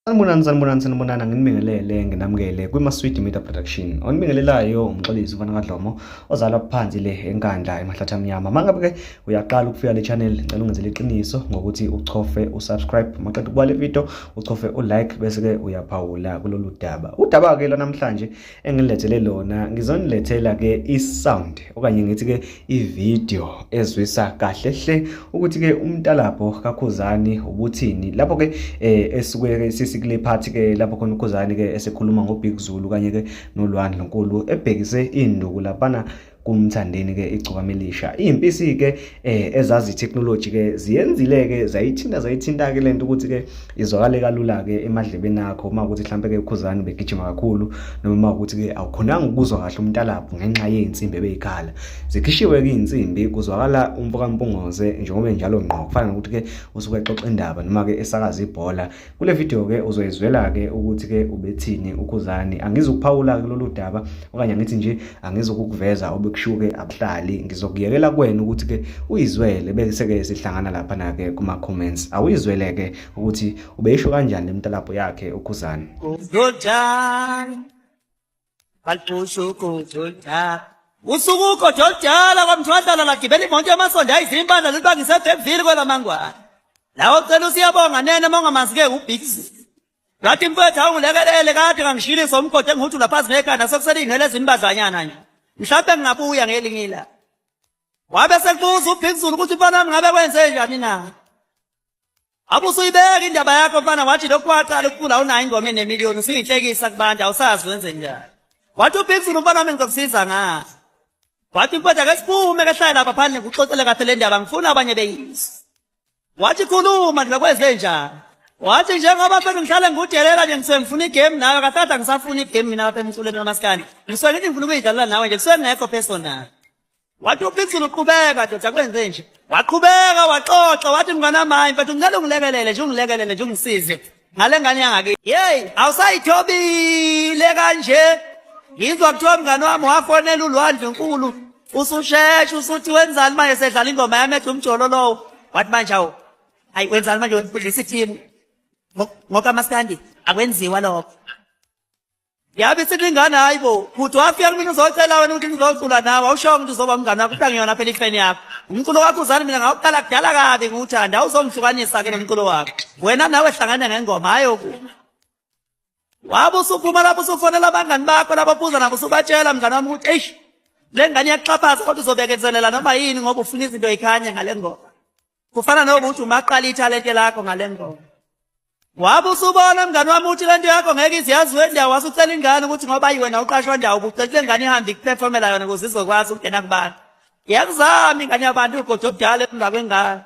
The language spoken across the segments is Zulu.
Sanibonani sanibonani sanibonani nginibingelele nginamukele kwiMaswidi Media Production. Onibingelelayo umxolisi ufana kaDlomo ozalwa phansi le enkandla emahlathi amnyama. Mangabe ke uyaqala ukufika le channel ngicela ungenzele iqiniso ngokuthi uchofe usubscribe maqeda ukuba le video uchofe ulike bese ke uyaphawula kulolu daba. Udaba ke lwanamhlanje engilethele lona ngizonilethela ke isound okanye ngithi ke ivideo ezwisa kahle hle ukuthi ke umntalapho kakhuzani ubuthini lapho ke eh, esuke sisikule part ke lapho khona ukhuzani ke esekhuluma ngo Big Zulu kanye ke nolwandle nkulu ebhekise induku lapana kumthandeni ke igcokama elisha izimpisi ke eh, ezazi technology ke ziyenzile ke zayithinta zayithinta ke lento ukuthi ke izwakale kalula ke emadlebeni akho uma ukuthi mhlambe ke ukhuzani begijima kakhulu noma ukuthi ke awukhonanga ukuzwa kahle umntalapho ngenxa yezinsimbi ebeyikhala zikhishiwe ke izinsimbi kuzwakala umfoka Mpungoze njengoba njalo ngqo kufana nokuthi ke usuke exoxa indaba noma ke esakaza ibhola Kule video ke uzoyizwela ke ukuthi ke ubethini uKhuzani. Angizukuphawula ke lolu daba okanye ngithi nje angizokukuveza obekushuke abuhlali. Ngizokuyekela kuwena ukuthi ke uyizwele bese ke sihlangana lapha na ke kuma comments. Awuyizwele ke ukuthi ubeyisho kanjani lemtalabho yakhe uKhuzani. Lotshani usuku ugodo oludala kwamthwadlala lagibela imoto yamasondo ayizimpandla lulibangise ebhemvile kwelamangwana lawo cela usiyabonga nene uma ungamanzi-ke ubhizi ngathi mfethu awungilekelele kade ngangishilisa umgodi engihuthi laphazi ngekhanda sekuselingele ezimbadlanyana nje mhlawumbe ngingabuya ngelinye ilanga wabe sekubuza ubhikuzulu ukuthi mfanami ngabe kwenze njani na Abusuyibeka indaba yakho mfana wathi lokhu waqala ukucula unayo ingoma enemiliyoni usuyinhlekisa kubantu awusazi wenze njani. Wathi uBigson umfana wami ngizokusiza ngaso. Wathi mfowethu ake siphume ke hlale lapha phandle ngikuxoxele kahle le ndaba ngifuna abanye beyizwe. Wathi khuluma nje kweze njani. Wathi njengoba mfethu ngihlale ngikudelela nje ngisuke ngifuna igame nawe kathatha ngisafuna igame mina lapha emculweni kamaskandi. Ngisuke ngithi ngifuna ukuyidlalela nawe nje kusuke ngekho personal. Wathi uPixel uqhubeka ndoda kwenze nje. Waqhubeka waxoxa wathi mngana manje mfethu ngicela ungilekelele nje ungilekelele nje ungisize. Ngale ngane yangake. Hey, awusayithobile kanje. Ngizwa kuthiwa mngane wami wafonela ulwandle unkulu. Ususheshe usuthi wenzani manje sedlala ingoma yami ethi umjolo lowo. Wathi manje awu. Hayi wenzani manje udlisa i-team. Ngoka maskandi akwenziwa lokho. Yabe silingana hayi bo. Kuthi wafika mina uzocela wena ukuthi ngizocula nawe. Awushongo ukuthi uzoba umngane wakho kodwa ngiyona phela ifeni yakho. Umculo wakho uzani mina ngawuqala kudala kabi ngiwuthanda. Awuzongihlukanisa ke nomculo wakho. Wena nawe hlangana ngengoma hayi okunye. Wabe usuphuma lapho usufonela abangani bakho labo buza nabo usubatshela mngane wami ukuthi eish le ngane iyaxhaphaza kodwa uzobekezelela noma yini ngoba ufuna izinto yikhanye ngale ngoma. kufana nokuthi umaqala ithalente lakho ngale ngoma wabe usubona mngani wami uthi lento yakho ngeke iziyazi wendawo wase ucela ingane ukuthi ngoba yiwena uqashwa ndawo ubucela le ngane ihambe ikuperformela yona ukuze izokwazi ukungena kubantu yakuzami ingane yabantu ugoda obudala emva kwengane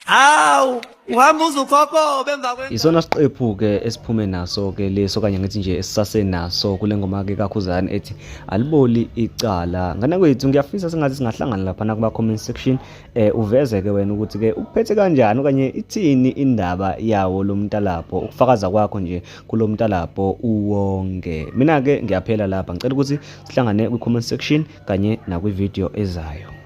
hawu uhamba uzukhokobe emva kwengane isona siqephu-ke esiphume naso-ke leso okanye ngithi nje esisasenaso kule ngoma-ke kakhuzane ethi aliboli icala ngane kwethu ngiyafisa singathi singahlangana laphana kuma-comment section eh uveze ke wena ukuthi ke ukuphethe kanjani okanye ithini indaba yawo lo mntalabho ukufakaza kwakho nje kulo mntalabho uwonke mina ke ngiyaphela lapha ngicela ukuthi sihlangane kwi comment section kanye nakwi video ezayo